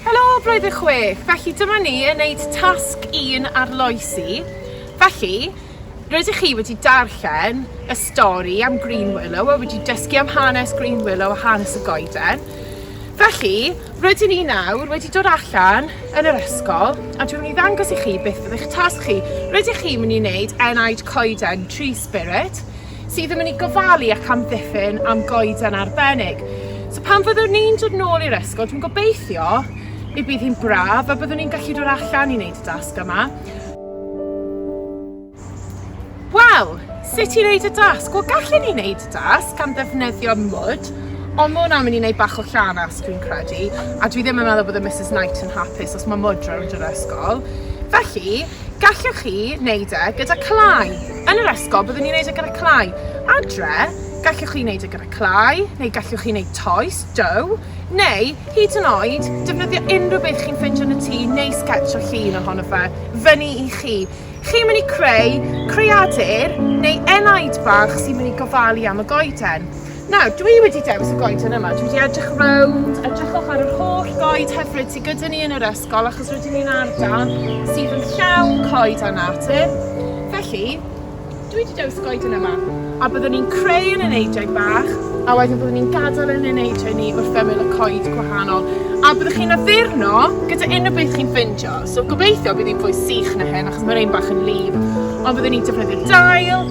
Helo, blwyddyn chwech. Felly dyma ni yn neud tasg un ar loesi. Felly, rydych chi wedi darllen y stori am Green Willow a wedi dysgu am hanes Green Willow a hanes y goeden. Felly, rydyn ni nawr wedi dod allan yn yr ysgol a dwi'n mynd i ddangos i chi beth byddai'ch tasg chi. Rydych chi'n mynd i wneud enaid coeden, tree spirit, sydd yn mynd i gofalu ac amddiffyn am goeden arbennig. So pan fyddwn ni'n dod nôl i'r ysgol, dwi'n gobeithio y bydd hi'n braf a byddwn ni'n gallu dod allan i wneud y dasg yma. Wel, sut i wneud y dasg? Wel, gallen ni wneud y dasg gan ddefnyddio mwd, ond mae hwnna'n mynd i wneud bach o llanas, dwi'n credu, a dwi ddim yn meddwl bod y Mrs Knight yn hapus os mae mwd rownd yr ysgol. Felly, Gallwch chi wneud e gyda clai. Yn yr ysgol, byddwn ni'n wneud e gyda clai. Adre, gallwch chi wneud e gyda clai, neu gallwch chi wneud toes, dough, neu, hyd yn oed, defnyddio unrhyw beth chi'n ffindio yn y tŷ neu sgetsio llun ohono fe. Fyny i chi. Chi'n mynd i creu creadur neu enaid bach sy'n mynd i gofalu am y goeden. Nawr, dwi wedi dewis y goeden yma. Dwi wedi edrych rownd, edrychwch ar yr holl goed hyfryd sydd gyda ni yn yr ysgol, achos rydyn ni'n ardal sydd yn llawn coed a natur. Felly, dwi wedi dewis y goeden yma. A byddwn ni'n creu yn y neidiau bach, a wedyn byddwn ni'n gadael yn y neidiau ni wrth ymyl y coed gwahanol. A byddwch chi'n addurno gyda unrhyw beth chi'n ffindio. So gobeithio bydd hi'n fwy sych na hyn, achos mae'r ein bach yn lif. Ond byddwn ni'n defnyddio dail,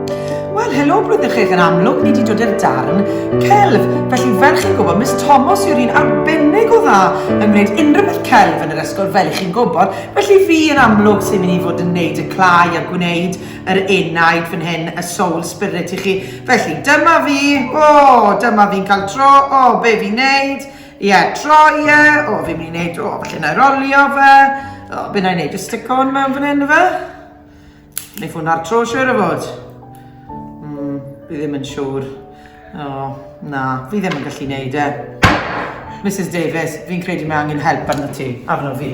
Wel, helo, blwyddyn chech yn amlwg, ni di dod i'r darn celf. Felly, fel chi'n gwybod, Miss Thomas yw'r un arbennig o dda yn gwneud unrhyw beth celf yn yr ysgol, fel i chi'n gwybod. Felly, fi yn amlwg sy'n mynd i fod yn gwneud y clai a gwneud yr enaid fan hyn, y soul spirit i chi. Felly, dyma fi, o, oh, dyma fi'n cael tro, o, oh, be fi'n gwneud? Ie, yeah, tro, ie, yeah. o, oh, fi'n mynd i wneud, o, oh, felly na i rolio fe, o, oh, be na i wneud, just stick on mewn fan hyn, fe? Neu ffôn ar tro siwr o fod. Mm, fi ddim yn siwr. O, oh, na, fi ddim yn gallu neud e. Mrs Davies, fi'n credu mae angen help arno ti, arno fi.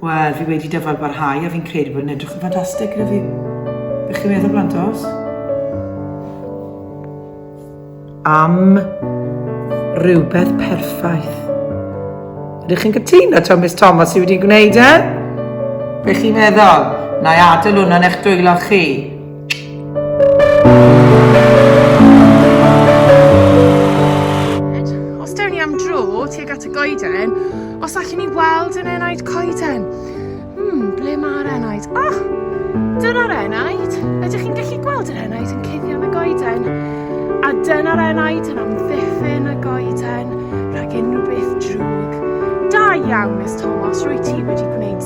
Wel, fi wedi dyfal barhau a fi'n credu bod yn edrych yn ffantastig gyda fi. Bych chi'n meddwl blantos? Am rhywbeth perffaith. Ydych chi'n cytuno, to Miss Thomas sydd wedi gwneud e? Bych chi'n meddwl? Na i adael hwnna'n eich dwylo chi. Os dewn ni am dro tuag at y goeden, os allwn ni weld yn enaid coeden. Hmm, ble mae'r enaid? Oh, dyna'r enaid. Ydych chi'n gallu gweld yr enaid yn cuddio yn y goeden? A dyna'r enaid yn amddiffyn y goeden rhag unrhyw beth drwg. Da iawn, Miss Thomas, rwy ti wedi gwneud